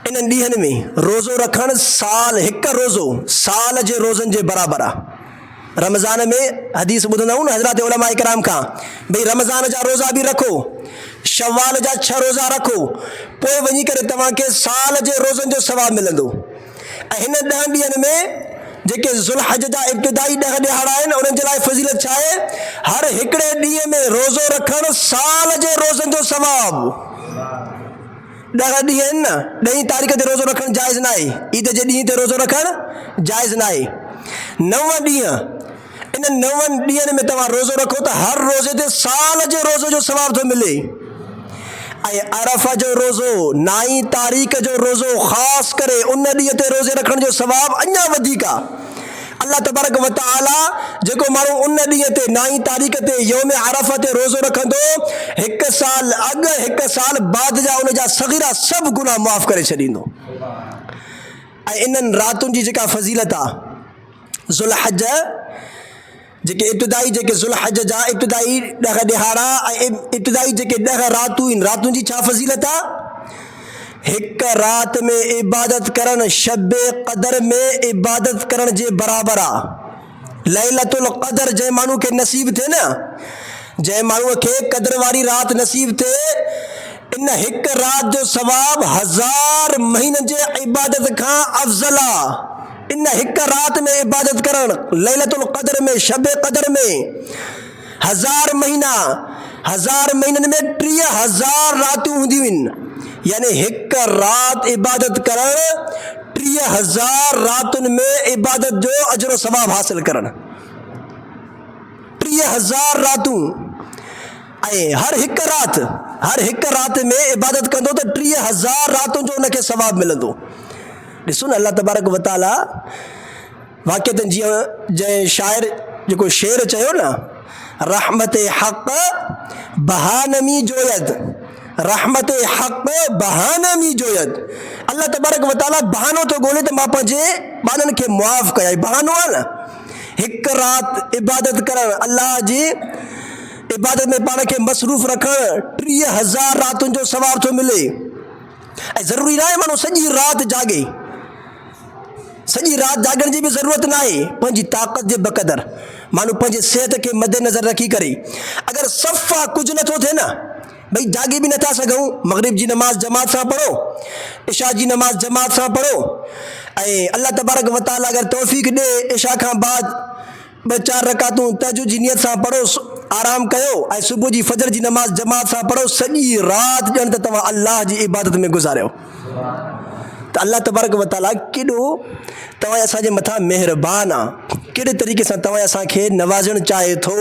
انهن ڏينهن ۾ روزو رکڻ سال هڪ روزو سال جي روزن جي برابر آ. رمضان ۾ حديث ٻڌندا آهيون نه حضرات علماء ڪرام کان ڀئي رمضان جا روزا به رکو شوال جا ڇهه روزا رکو پوء وڃي ڪري توهان کي سال جي روزن جو ثواب ملندو ۽ هن ڏهن ڏينهن ۾ جيڪي ذوالحج جا ابتدائي ڏهه ڏهاڙا آهن انهن جي لاء فضيلت ڇا آهي هر هڪڙي ڏينهن ۾ روزو رکڻ سال جي روزن جو ثواب ڏهه ڏينهن آهن نه، ڏهين تاريخ تي روزو رکڻ جائز ناهي، عيد جي ڏينهن تي روزو رکڻ جائز ناهي. نو ڏينهن، انهن نون ڏينهن ۾ توهان روزو رکو ته هر روزي تي سال جي روزي جو ثواب ٿو ملي ۽ عرفه جو روزو، نائين تاريخ جو روزو خاص ڪري ان ڏينهن تي روزي رکڻ جو ثواب اڃا وڌيڪ آهي. الله تبارڪ وتعاليٰ جيڪو ماڻهو ان ڏينهن تي، نائين تاريخ تي، يوم عرفه تي روزو رکندو، هڪ سال اڳ هڪ سال بعد جا ان جا صغيرا سڀ گناهه معاف ڪري ڇڏيندو ۽ انهن راتن جي جيڪا فضيلت آ ذوالحج جيڪي ابتدائي جيڪي ذوالحج جا ابتدائي ڏهه ڏهاڙا ۽ ابتدائي جيڪي ڏهه راتون آهن راتن جي ڇا فضيلت آ؟ هڪ رات ۾ عبادت ڪرڻ شب قدر ۾ عبادت ڪرڻ جي برابر آ. ليلة القدر جنهن ماڻهو کي نصيب ٿئي نه جنهن ماڻهو کي قدر واري رات نصيب ٿئي ان هڪ رات جو ثواب هزار مهينن جي عبادت کان افضل آ ان هڪ رات ۾ عبادت ڪرڻ ليلة القدر ۾ شب قدر ۾. هزار مهينا، هزار مهينن ۾ ٽيهه هزار راتون هونديون هين، يعني هڪ رات عبادت ڪرڻ ٽيهه هزار راتن ۾ عبادت جو اجر و ثواب حاصل ڪرڻ. ٽيهه هزار راتون ۽ هر هڪ رات، هر هڪ رات ۾ عبادت ڪندو ته ٽيهه هزار راتن جو ان کي ثواب ملندو. ڏسو نه الله تبارڪ و تعاليٰ واقعتن جيئن جنهن شاعر جيڪو شعر چيو نه، رحمت حق بها نمي جويد، رحمت حق بها نمي جويد، الله تبارڪ و تعاليٰ بهانو ٿو ڳولي ته مان پنهنجي ٻانهن کي معاف ڪيائين، بهانو آهي نه، هڪ رات عبادت ڪرڻ، الله جي عبادت ۾ پاڻ کي مصروف رکڻ ٽيهه هزار راتن جو ثواب ٿو ملي. ۽ ضروري ناهي ماڻهو سڄي رات جاڳي، سڄي رات جاڳڻ جي به ضرورت ناهي، پنهنجي طاقت جي بقدر ماڻهو پنهنجي صحت کي مدنظر رکي ڪري اگر صفا ڪجهه نٿو ٿئي نه ڀئي جاڳي به نٿا سگهون، مغرب جي نماز جماعت سان پڙهو، عشاء جي نماز جماعت سان پڙهو ۽ الله تبارڪ وتعاليٰ اگر توفيق ڏئي عشاء کان بعد ٻه چار رڪعتون تهجد جي نيت سان پڙهو، آرام ڪيو ۽ صبح جي فجر جي نماز جماعت سان پڙهو، سڄي رات ڄڻ ته توهان الله جي عبادت ۾ گذاريو ته الله تبارڪ وتعاليٰ ڪيڏو توهان اسان جي مٿان مهربان آ، ڪهڙي طريقي سان توهان اسان کي نوازڻ چاهي ٿو.